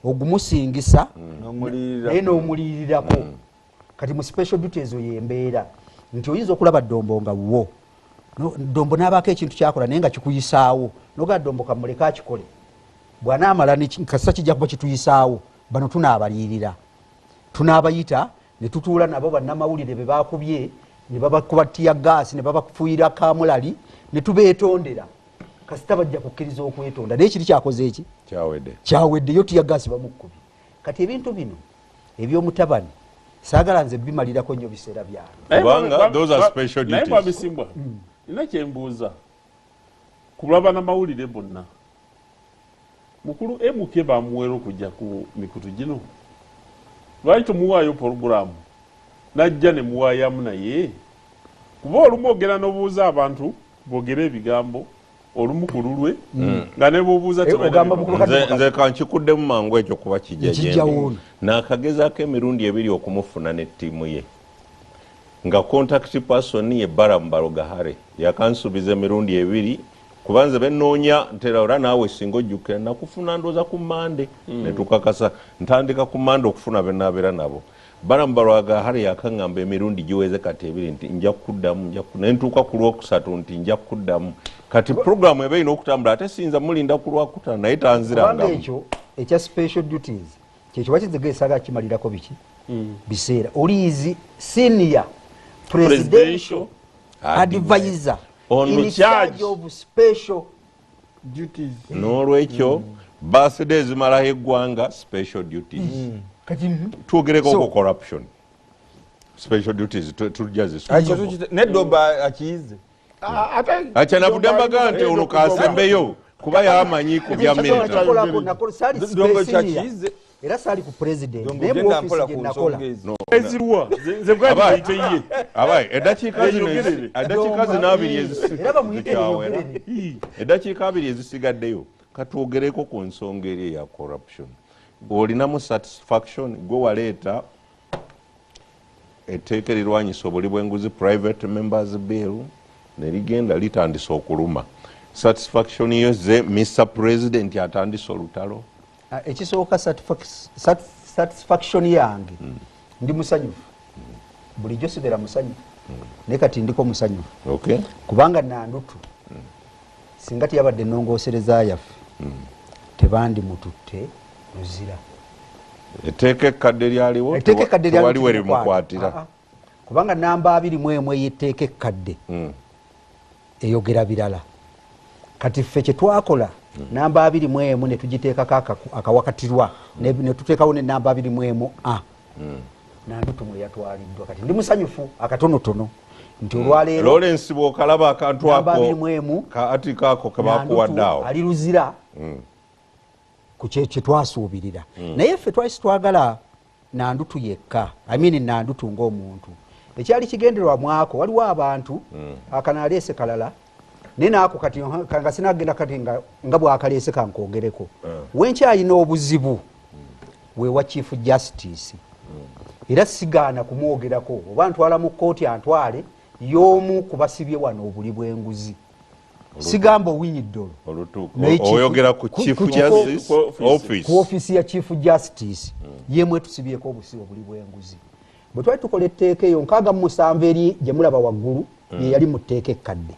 ogumusingisa naye n'omuliyirirako kati mu special duty ezo yembeera nti oyinza okulaba dombo nga wuwo dombo nabaako ekintu kyakola naye nga kikuyisaawo nogaa dombo kamuleke akikole bwanaamala kasita kijja kuba kituyisaawo bano tunaabaliyirira tunaabayita ne tutuula nabo bannamawulire be bakubye ne babakuba tiya gaasi ne babafuuyira kamulali ne tubeetondera kasita bajja kukkiriza okwetonda naye kiri kyakoze eki kyawedde kyawedde yo tiya gaasi bamukkubi kati ebintu bino ebyomutabani sagala nze bimalirako nyo biseera byanebwabisimbwa mm. nina kyembuuza kulwabana mawulire bonna mukulu mk bamuwera okujja ku mikutu gino lwaki tomuwaayo poroguramu najja nemuwayamu naye kuba olumu ogera nobuuza abantu bogere ebigambo olumu ku lulwe mm. nga ne bwobuuza eh, nze kankikuddemu mangu ekyo kuba kijajembi naakagezaako emirundi ebiri okumufuna ne ttiimu ye nga contact person ye baramu balogahare yakansuubiza emirundi ebiri kuba nze benoonya ntera ora naawe singa ojjukira nakufuna ndooza ku mande mm. netukakasa ntandika ku mande okufuna benaabeera nabo Balaam Balwaga Harry yakangamba emirundi giweze kati ebiri nti nja kuddamu nja ne ntuuka ku Lwokusatu nti nja kuddamu. Kati pulogulaamu eba erina okutambula ate siyinza mulinda ku Lwakutaano naye tanzirangamu. Kubanga ekyo ekya special duties kyekyo bakizega esala kimalirako biki mm. biseera oliizi senior presidential advisor in charge of special duties n'olwekyo mm. birthday ezimalaho eggwanga special duties mm. kati mm-hmm. twogereko so, ku corruption special duties tujja zisneddoba akiyize akyanavudde mbaga nti ono kasembeyo kuba yamanyi ku bya militarynakola era saali ku president naye mu office gye nakola eziruwa nze bwali bayite ye abaye edakiika zino edakiika zino abiri ezisigadde era bamuyite yogerere edakiika abiri ezisigaddeyo katwogereko ku nsonga eri eya corruption olinamu satisfaction gwe waleeta etteeka erirwanyisa obuli bwenguzi private members bill nerigenda litandisa okuluma satisfaction yo ze mr president atandise olutalo Ah, ekisooka satisfaction yange mm. ndi musanyufu mm. bulijjo sigera musanyufu mm. naye kati ndiko musanyufu okay. kubanga nandutu mm. singa teyabadde enongosereza yaffe mm. tebandi mututte luzira eteeka ekkadde lyaliwo tewali werimukwatira ah, ah. kubanga namba abiri mu emu eyetteeka ekkadde hmm. eyogera birala kati ffe kyetwakola hmm. namba abiri mu emu netugiteekako akawakatirwa hmm. netuteekawo nenamba abiri mu emu a nandutumu eyatwaliddwa kati ndi musanyufu akatonotono nti olwaleerolawrence bwokalaba akantu akoabirimuemu kaati kaako kebakuwaddaawo ali luzira ku kyetwasuubirira naye ffe twali sitwagala nandutu yekka i mean nandutu ng'omuntu ekyali kigenderwa mwako waliwo abantu mm. akanaleese kalala naye naako kati nga sinagenda kati nga bwakaleese kankogereko mm. wenkyalina obuzibu mm. wewa chief justice mm. era sigaana kumwogerako oba ntwala mu kkooti antwale y'omu kubasibye wano obuli bw'enguzi sigamba owinyi ddolo oyogera ku chief justice office ku office ya chief justice mm. yemwe tusibyeko obusibo buli bwenguzi bwe twali tukola etteeka eyo nkaaga mu musanvu eri gye mulaba waggulu mm. ye yali mu tteeka ekkadde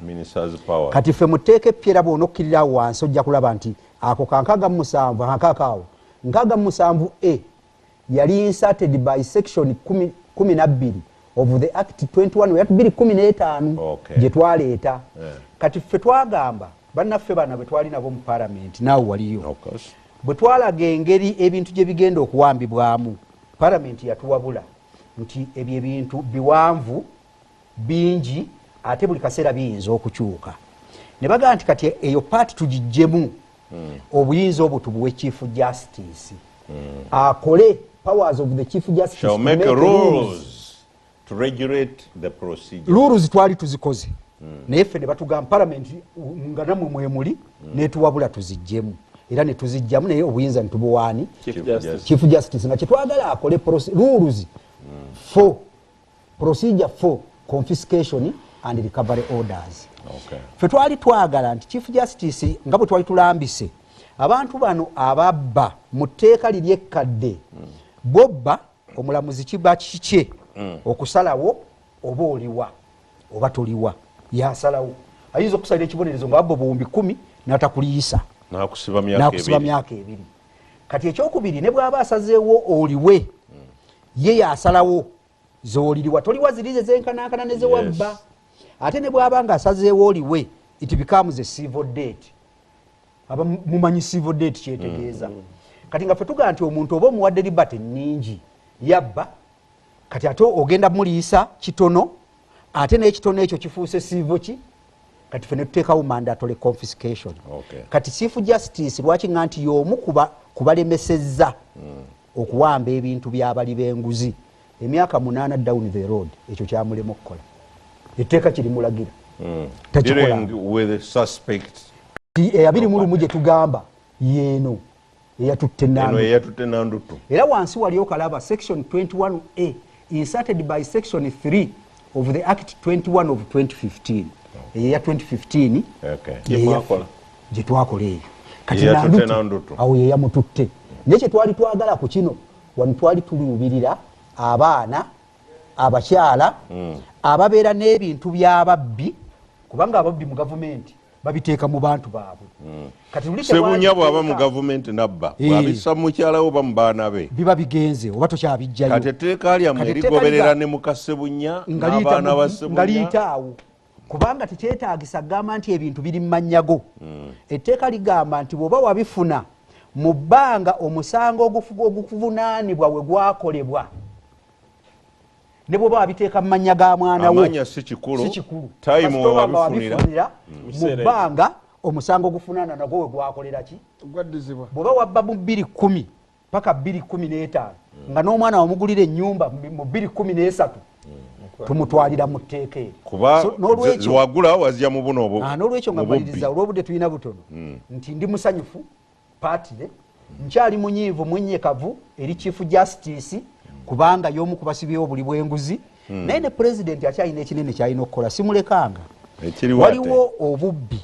kati ffe mu tteeka eppyera bwona okkirira wansi ojja kulaba nti ako kankaaga mu musanvu akaakaawo nkaaga mu musanvu e yali inserted by section kumi nabbiri of the act 21 ya bbiri kumi n'etaano Okay. gye twaleeta Eh. kati ffe twagamba bannaffe bana bwe twali nabo mu palamenti naawe waliyo Of course. bwe twalaga engeri ebintu gye bigenda okuwambibwamu palamenti yatuwabula nti ebyo ebintu biwanvu bingi ate buli kaseera biyinza okukyuka ne bagamba nti kati eyo paati tugiggyemu mm. obuyinza obu tubuwe chief justice mm. akole powers of the chief justice Shall make, make rules, rules to regulate the procedure rules twali tuzikoze mm. naye ffe ne batugamba parliament nga namwe mwemuli mm. netuwabula tuzijjemu era netuzijjamu naye obuyinza nitubuwaani chief justice nga kyetwagala akole rules mm. for procedure for confiscation and recovery orders okay. fe twali twagala nti chief justice nga bwe twali tulambise abantu bano ababba mu tteeka liri ekkadde mm. bobba omulamuzi kiba kikye mm. okusalawo oba oliwa oba toliwa yasalawo ayinza okusalira ekibonerezo nga abba obuwumbi kumi natakuliyisa nakusiba myaka ebiri kati ekyokubiri ne bwaba asazeewo oliwe mm. ye yasalawo zoliriwa toliwa zirize zenkanankana nezewabba yes. ate ne bwaba nga asazeewo oliwe it becomes a civil date aba mumanyi civil date kyetegeeza mm. kati nga fetugaa nti omuntu oba omuwadde libate nyingi yabba kati ate ogenda muliyisa kitono ate n'ekitone ekyo kifuuse siivo ki kati fe netuteekawo mandatory confiscation okay. kati chief justice lwaki nga nti y'omu kubalemesezza mm. okuwamba ebintu byabali b'enguzi emyaka munaana down the road ekyo kyamulema okukola etteeka kirimulagira mm. takikola eyabiri mu lumu gye tugamba yeeno eyatutte nanduttu era wansi wali okalaba section 21a inserted by section 3 of the act 21 of 2015 eyo ya 2015 gyetwakola eyo kati nanduttu awo yeyamututte naye kyetwali twagala ku kino wano twali tuluubirira abaana abakyala hmm. ababeera n'ebintu by'ababbi kubanga ababbi mu gavumenti babiteeka mu bantu baabwe hmm. sebunya bwaba mu gavumenti nabba eh. bwabisa mukyalawo oba mu baana be biba bigenze oba tokyabijjayo kati etteeka lyammwe erigoberera ne muka sebunya n'abaana ba sebunya liyitaawo kubanga tekyetagisa kugamba nti ebintu biri mumanyago hmm. etteeka ligamba nti bwoba wabifuna mu bbanga omusango ogukuvunanibwa wegwakolebwa ne bwoba wabiteeka mu mannya ga mwana wo si kikulu wabifunira mu bbanga omusango gufunana nagwo we gwakolera ki bwoba wabba mu bbiri kumi paka bbiri kumi n'etaano hmm. nga n'omwana wamugulira ennyumba mu bbiri kumi n'esatu hmm. tumutwalira mu tteeka eryonolwekyo ah, nga maliriza olw'obudde tulina butono hmm. nti ndi musanyufu patire nkyali munyiivu mwenyekavu eri chief justice kubanga yomu kubasibyewo buli bwenguzi hmm. naye ne president akyalina ekinene kyalina okukola simulekanga waliwo obubbi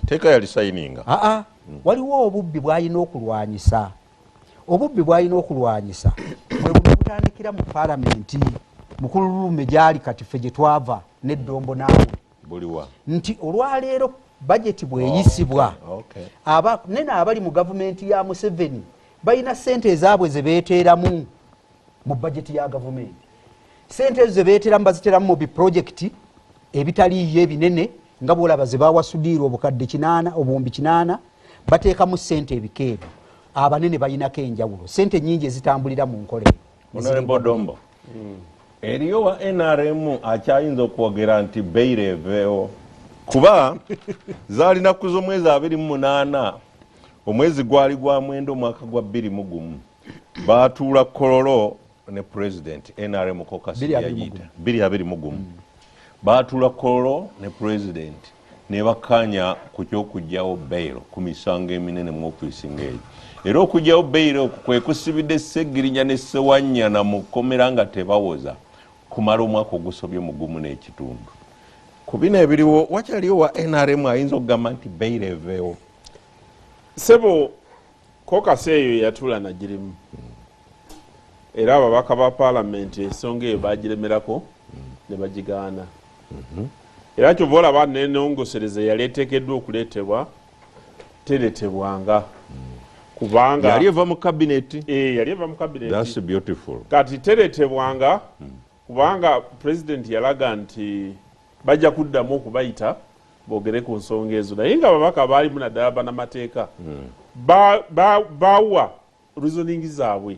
aa hmm. waliwo obubbi bwalina okulwanyisa obubbi bwalina okulwanyisa bwebutandikira mu palamenti mukululume gyali kati fe gyetwava neddombo naawe nti olwaleero bajeti bweyisibwa oh, okay. aba nene abali mu gavumenti ya museveni balina sente ezaabwe zebeteeramu mu bajeti ya gavumenti sente ezo zebeteeramu baziteeramu mu biprojekiti ebitaliiyo ebinene nga bwolaba zebawasudiirwa obukadde kinaana obuwumbi kinaana bateekamu sente ebikeebi abanene balinako enjawulo sente nyingi ezitambulira mu nkola eyo eriyo wa nrm akyayinza okwogera nti beyiro eveewo kuba zaali nakku z'omwezi abiri mu munaana omwezi gwali gwa mwenda omwaka gwa bbiri mu gumu baatuula kololo ne pulezidenti nrm kokasi yayita bbiri abiri mu gumu baatuula kololo ne pulezidenti nebakkaanya ku ky'okuggyawo bail ku misango eminene mu ofiisi ng'eyo era okuggyawo bail okwo kwe kusibidde Ssegirinya ne Ssewanyana mu kkomera nga tebawoza kumala omwaka ogusobye mu gumu n'ekitundu ku bino ebiriwo wakyaliwo wa nrm ayinza okugamba nti bail eveewo sebo Kokasi eyo yatula nagirimu era ababaka ba palamenti ensonga eyo bagiremerako ne bagigaana mhm. era kyova olaba nenongosereza yali etekeddwa okuleetebwa teretebwanga mm. kubanga yali eva mu kabineti eh, yali eva mu kabineti kati teretebwanga mm. kubanga pulezidenti yalaga nti bajja kuddamu okubayita bogere ku nsonga ezo naye nga ababaka baalimu naddala banamateeka hmm. bawa reasoning zaabwe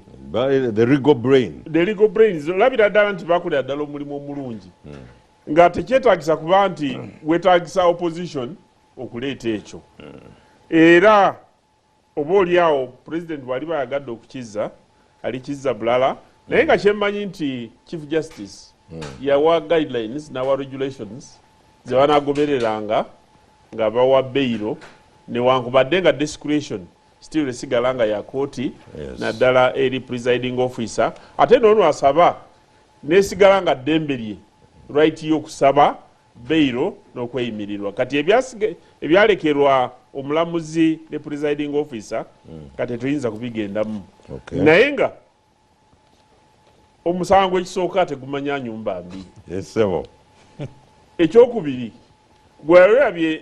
olabira ddala nti bakolera ddala omulimu omulungi hmm. nga tekyetagisa kuba nti wetagisa opposition okuleeta ekyo hmm. era Oba oli awo president bwaliba ayagadde okukizza alikizza bulala naye nga kyemmanyi nti chief justice hmm. yawa guidelines nawa regulations zebanagobereranga nga bawa beyiro newankubadde nga discretion still esigala nga yakooti yes. naddala eri presiding officer ate noono asaba nesigala nga ddembe lye right yokusaba beyilo nokweyimirirwa kati ebyalekerwa omulamuzi ne presiding officer mm. kati tetuyinza kubigendamu okay. naye nga omusango ekisooka tegumanya nyumba mbi yes, ekyokubiri gwewerabye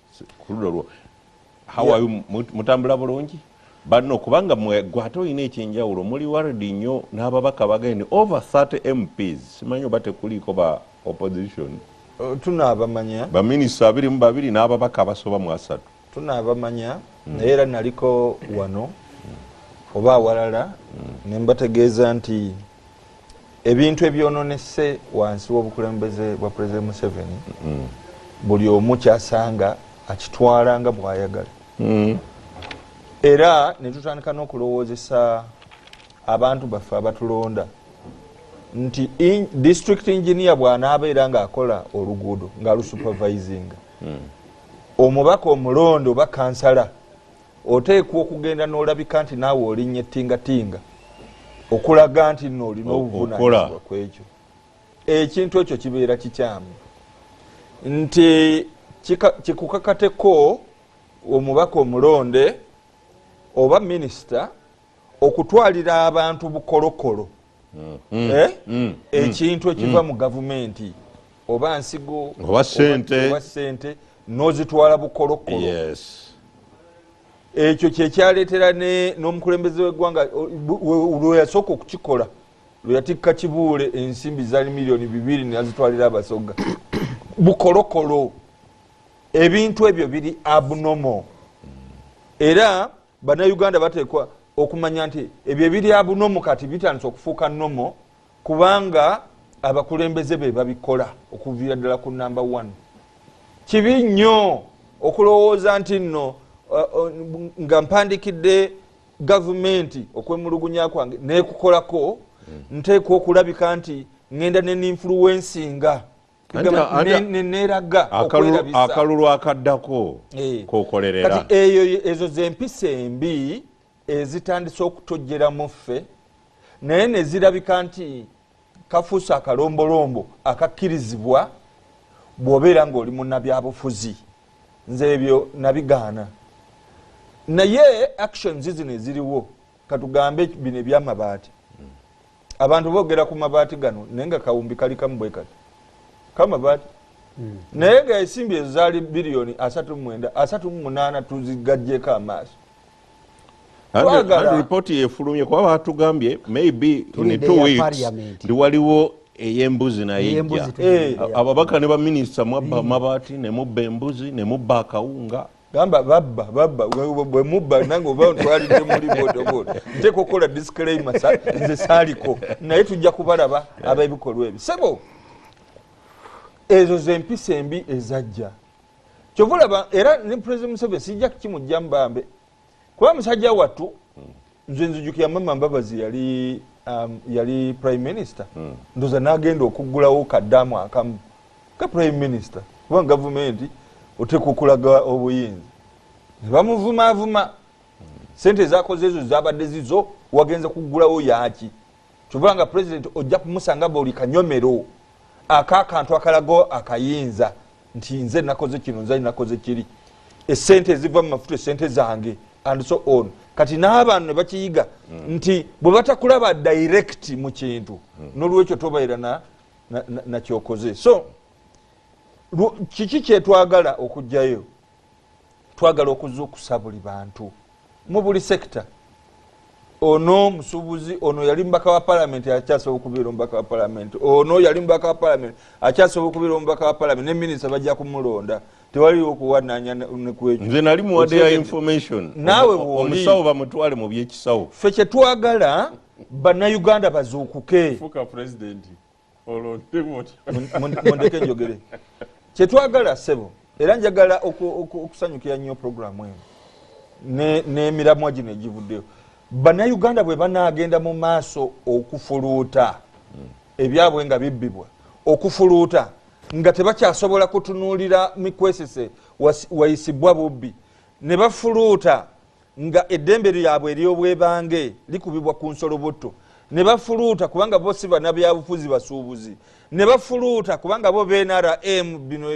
kuludolwo how are you mutambula bulungi banno kubanga gwate olina ekyenjawulo muli waridi nnyo n'ababaka bagende over 30 mps simanyi oba tekuliiko ba opposition uh, tunabamanya baminisita abiri mu babiri n'ababaka abasoba mu asatu tunabamanya hmm. naye era naliko wano oba awalala hmm. ne mbategeeza nti ebintu ebyononese wansi wobukulembeze bwa president museveni mm. buli omu kyasanga akitwala nga bwayagala mm. era netutandika nokulowoozesa abantu baffe abatulonda nti district engineer bwanaabeera ngaakola oluguudo nga lusupervisinga mm. omubaka omulonde oba kansala oteekwa okugenda n'olabika nti naawe olinya ettingatinga okulaga nti no olina obuvunanyizibwa ku ekyo ekintu ekyo kibeera kikyamu nti kikukakateko omubaka omulonde oba minisita okutwalira abantu bukolokolo mm-hmm. eh? mm-hmm. ekintu ekiva mm-hmm. mu gavumenti oba nsigo oba sente nozitwala bukolokolo ekyo kyekyaleetera n'omukulembeze w'eggwanga lweyasooka okukikola lweyatikka kibuule ensimbi zali miliyoni bibiri nazitwalira abasoga bukolokolo ebintu ebyo biri abnormal era bannayuganda bateekwa okumanya nti ebyo ebirya bunomu kati bitandise okufuuka nomo kubanga abakulembeze be babikola okuviira ddala ku namba one kibi nnyo okulowooza nti nno uh, uh, nga mpandikidde gavumenti okwemulugunya kwange nekukolako mm. nteekwa okulabika nti ŋenda neninfuluwensinga neneraga akalulu akaddako eh. kokolerera eyo ezo zempisa embi ezitandise okutojjera mu ffe naye nezirabika nti kafuusi akalombolombo akakkirizibwa bwobeera ngaoli munabyabufuzi nze ebyo nabigaana naye actions zino eziriwo katugambe bino ebyamabaati abantu bogera ku mabaati gano naye nga kawumbi kali kamu bwe kati kamabaati hmm. naye nga esimbi ezo zaali biliyoni asatu mumwenda asatu mumunaana tuzigajjeko amaaso ripooti yefulumye kuba batugambye maybe in two weeks ndi waliwo eyembuzi naye ja eh. ababaka ne baminisita mwabba amabaati nemubba embuzi nemubba akawunga gamba babba babba bwe mubba nange oba ntwalidde muli bodaboda nteeka okukola disclaima nze saaliko naye tujja kubalaba eh. ab'ebikolwa ebyo sebo ezo zempisa embi ezajja kyova olaba era ne president museveni sijja kukimujjamu bambe kuba musajja wattu nze nzijukira mama mbabazi yali um, yali prime minister mm. ndoza nagenda okuggulawo kadamu akamu ka prime minister kuba gavumenti otekukulaga obuyinza nebamuvumavuma sente ezakoze ezo zabadde zizo wagenza kuggulawo yaki kyova nga president ojja kumusanga buli kanyomero akakantu akalago akayinza nti nze nakoze kino nze nakoze kiri esente eziva mu mafuta esente zange and so on kati n'abantu ne bakiyiga mm. nti bwe batakulaba direct mu kintu mm. n'olwekyo tobaira na nakyokoze so kiki kyetwagala okugjayo twagala okuzukusa buli bantu mu buli sekita ono musubuzi ono yali mubaka wa palamenti akyasobola okubeera omubaka wa palamenti ono yali mubaka wa palamenti akyasobola okubeera omubaka wa palamenti neminisita bajja kumulonda tewaliwo okuwananya nekwekyo nali muwade ya information nawe omusawo bamutwale mu byekisawo fe kyetwagala banauganda bazuukuke mundeke njogere kyetwagala sebo era njagala okusanyukira nnyo programu eno n'emiramwa gino egivuddeyo bannayuganda bwe banaagenda mu maaso okufuluuta ebyabwe nga bibbibwa okufuluuta nga tebakyasobola kutunuulira mikwesese wayisibbwa bubbi ne bafuluuta nga eddembe lyabwe eryobwebange likubibwa ku nsolobotto ne bafuluuta kubanga bo si banabyabufuzi basuubuzi ne bafuluuta kubanga bo bnrm bino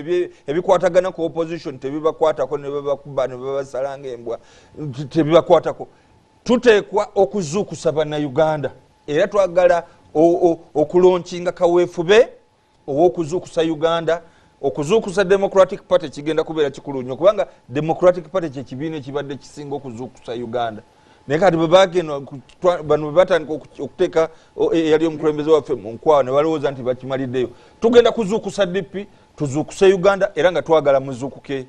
ebikwatagana ku opposition tebibakwatako nebabakuba nebabasalanga embwa tebibakwatako tuteekwa okuzuukusa banauganda era twagala okulonkinga kaweefube owokuzuukusa uganda okuzuukusa democratic party kigenda kubeera kikulu nnyo kubanga democratic party kyekibiina ekibadde kisinga okuzuukusa uganda naye kati bwebagenda bano bwebatandika okuteeka eyali omukulembeze waffe mu nkwawa ne balowooza nti bakimaliddeyo tugenda kuzuukusa dp tuzuukuse uganda era nga twagala muzuukuke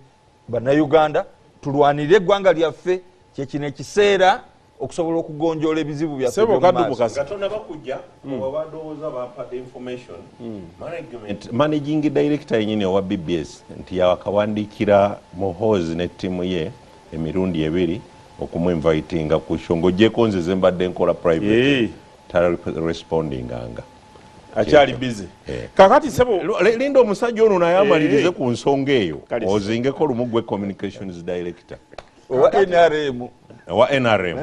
bannayuganda tulwanire eggwanga lyaffe kyekino ekiseera okusobola okugonjoola ebizibu byaffe nga tonaba kujja hmm. oba badowooza bampadde information hmm. management managing director yenyini owa bbs nti yawakawandiikira muhoozi ne ttiimu ye emirundi ebiri okumuinvitinga ku sho ngaogyeko nze zembadde nkola private eh. tarespondinganga akyali bize eh. kakati sebo linda omusajja ono naye amalirize eh. ku nsonga eyo ozingeko lumu gwe communications director owa nrm owa nrm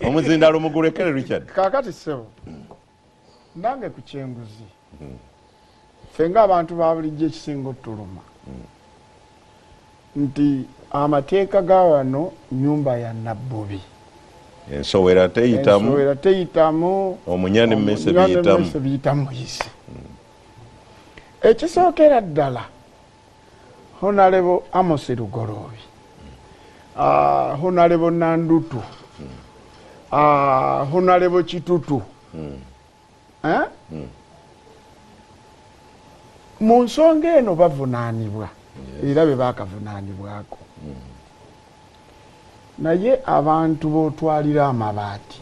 omuzindalo mugulekere richard kakati sebo nange ku kyenguzi hmm. fe nga abantu babulijjo ekisinga otuluma hmm. nti amateeka ga wano nyumba ya nabbubi ensowera teyitamuensowera teyitamu omunya nemese biyitamu biyitamu yisi hmm. ekisookera ddala honalebo amosi lugoloobi ah, honalebo nandutu ah, honalebo kitutu hmm. eh? hmm. mu nsonga eno bavunaanibwa era be baakavunaanibwako hmm. Naye abantu botwalira amabaati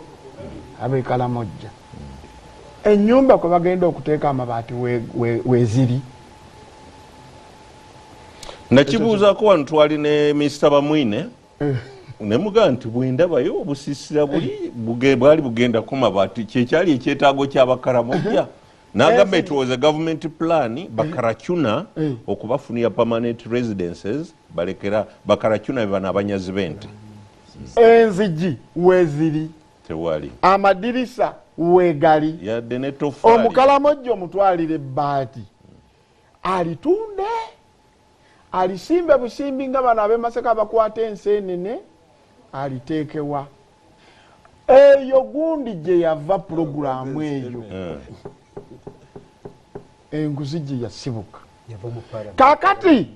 abe Kalamojja enyumba kwe bagenda okuteeka amabaati weziri. Nakibuuzako wano twali ne Mister Bamwine eh. nemuga nti bwendabayo obusisira buli bwali bugenda kumabaati kyekyali ekyetaago kyabakaramojja nagamba it was a government plan eh. bakaracuna eh. okubafunira permanent residences balekera bakaracuna bebana abanyazi bente enzigi weziri tewali amadirisa wegali yadde netofali omukalamojja omutwalire baati alitunde Alisimbe busimbi nga bano ab'e Masaka abakwata enseenene aliteeke wa? Eyo gundi gye yava pulogulaamu eyo enguzi gye yasibuka kaakati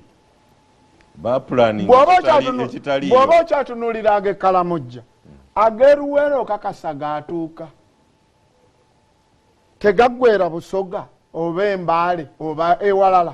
bw'oba okyatunulira ag'ekkalamujja ag'eruweera okakasa gaatuuka tegaggwera busoga oba embaale oba ewalala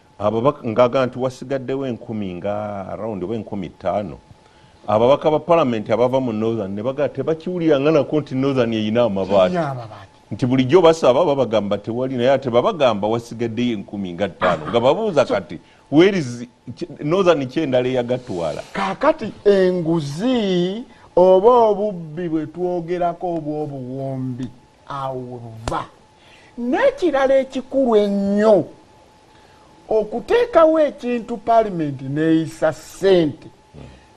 Ababaka ngaga nti wasigaddewo enkumi nga around oba enkumi ttaano ababaka ba palamenti abava mu northern ne bagaa tebakiwulira nga nako nti northern erina amabaati nti bulijjo basaba babagamba tewali naye ate babagamba wasigaddeyo enkumi nga ttaano nga babuuza kati werizi northern ki endala eyagatwala kakati enguzi oba obubbi bwe twogerako obw'obuwombi awo webuva nekirala ekikulu ennyo okuteekawo ekintu palimenti neyisa sente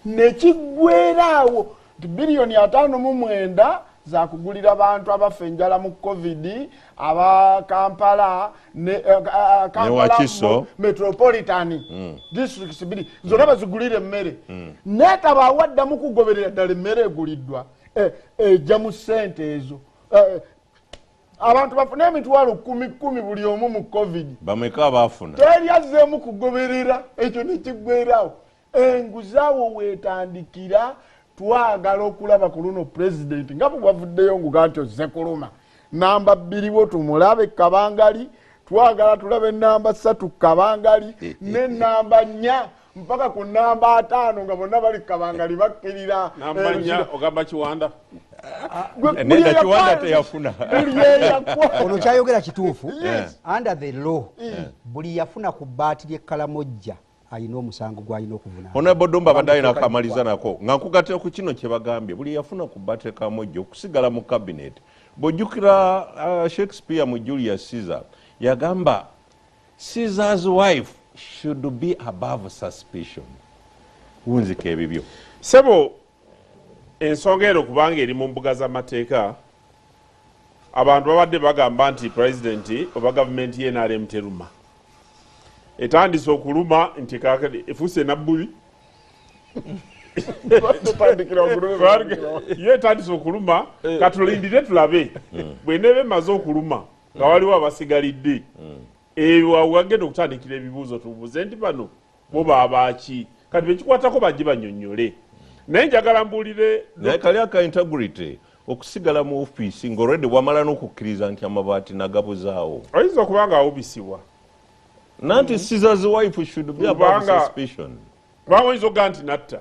nekiggwera awo nti biliyoni ataano mu mwenda zakugulira bantu abafa enjala mu covid aba kampala nekampalakiso eh, eh, metropolitan hmm. districts biri zona bazigulira emmere hmm. netabawaddamu kugoberera ddala emmere eguliddwa mm. eh, ejja eh, mu sente ezo eh, abantu bafune emitwalo kumi kumi buli omu mu covid bameka abafuna teri azzeemu kugoberera ekyo nekiggwerawo enguzaawo weetandikira twagala okulaba ku luno pulezidenti nga bwewavuddeyo nguga nti ozze kuluma namba bbiriwo tumulabe kabangali twagala tulabe namba satu kabangali ne namba nnya mpaka ku namba ataano nga bonna bali kukabangali bakkirira ogamba kiwanda ono kyayogera kituufu under the law buli yafuna ku baati lyekkalamojja alina omusango gwalina okuvunaonabodumba abadde alina akamaliza nako nga nkugatira ku kino kyebagambye buli yafuna ku baati lyekkalamojja okusigala mu kabineeti bwojjukira uh, shakespeare mu julius caesar yagamba Caesar's wife should be above suspicion. Wunzika ebibyo. Sebo ensonga eno kubanga eri mu mbuga z'amateeka abantu babadde bagamba nti pulezidenti oba gavumenti ye nrm teruma etandise okuluma nti efuuse nabbuli ye etandise okuluma eh. katulindire tulabe hmm. bweneeba emaze okuluma nga waliwo abasigalidde mm. eyo awagenda okutandikira ebibuuzo tubuuze nti bano bo babaaki kati bekikwatako bajje banyonyole naye njagala mbuulire naye kali aka integrity okusigala mu ofiisi ngaolwedde wamala n'okukkiriza nti amabaati nagabuzaawo oyinza okuba nga awubisibwa nanti mm-hmm. sizaziwaifu should be about suspicion kubanga oyinza okuga nti natta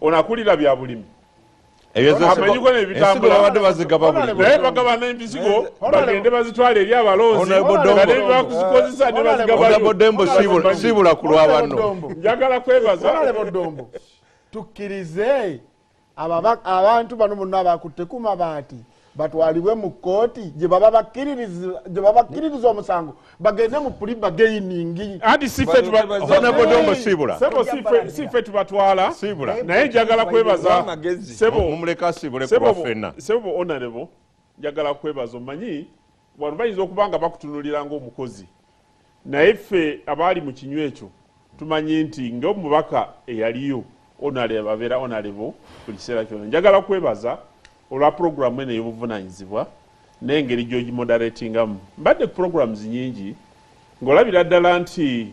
ono akulira bya bulimi ebyezesibabadde bazigaba bulinaye bagabana empizigo bagende bazitwala eri abalonzi bakuzikozesa nebazigabasiibula ku lwabanno njagala kwebaza tukkirize abantu bano bonna abakutte kuma baati batwalibwe mu kkooti gye baba bakkiririza omusango bagende mu puli bageiningi anti sife tubatwala naye njagala kwebaza sebo onarebo njagala kwebaza omanyi Wano bayinza okuba nga bakutunulira ng'omukozi, naye ffe abaali mu kinywa ekyo tumanyi nti ng'omubaka eyaliyo onalebo abeera onalebo buli kiseera kyona. Njagala kwebaza olwa pulogulaamu eno ey'obuvunanyizibwa n'engeri gy'ogimodaretingamu. Mbadde ku pulogulaamuzi nyingi ng'olabira ddala nti.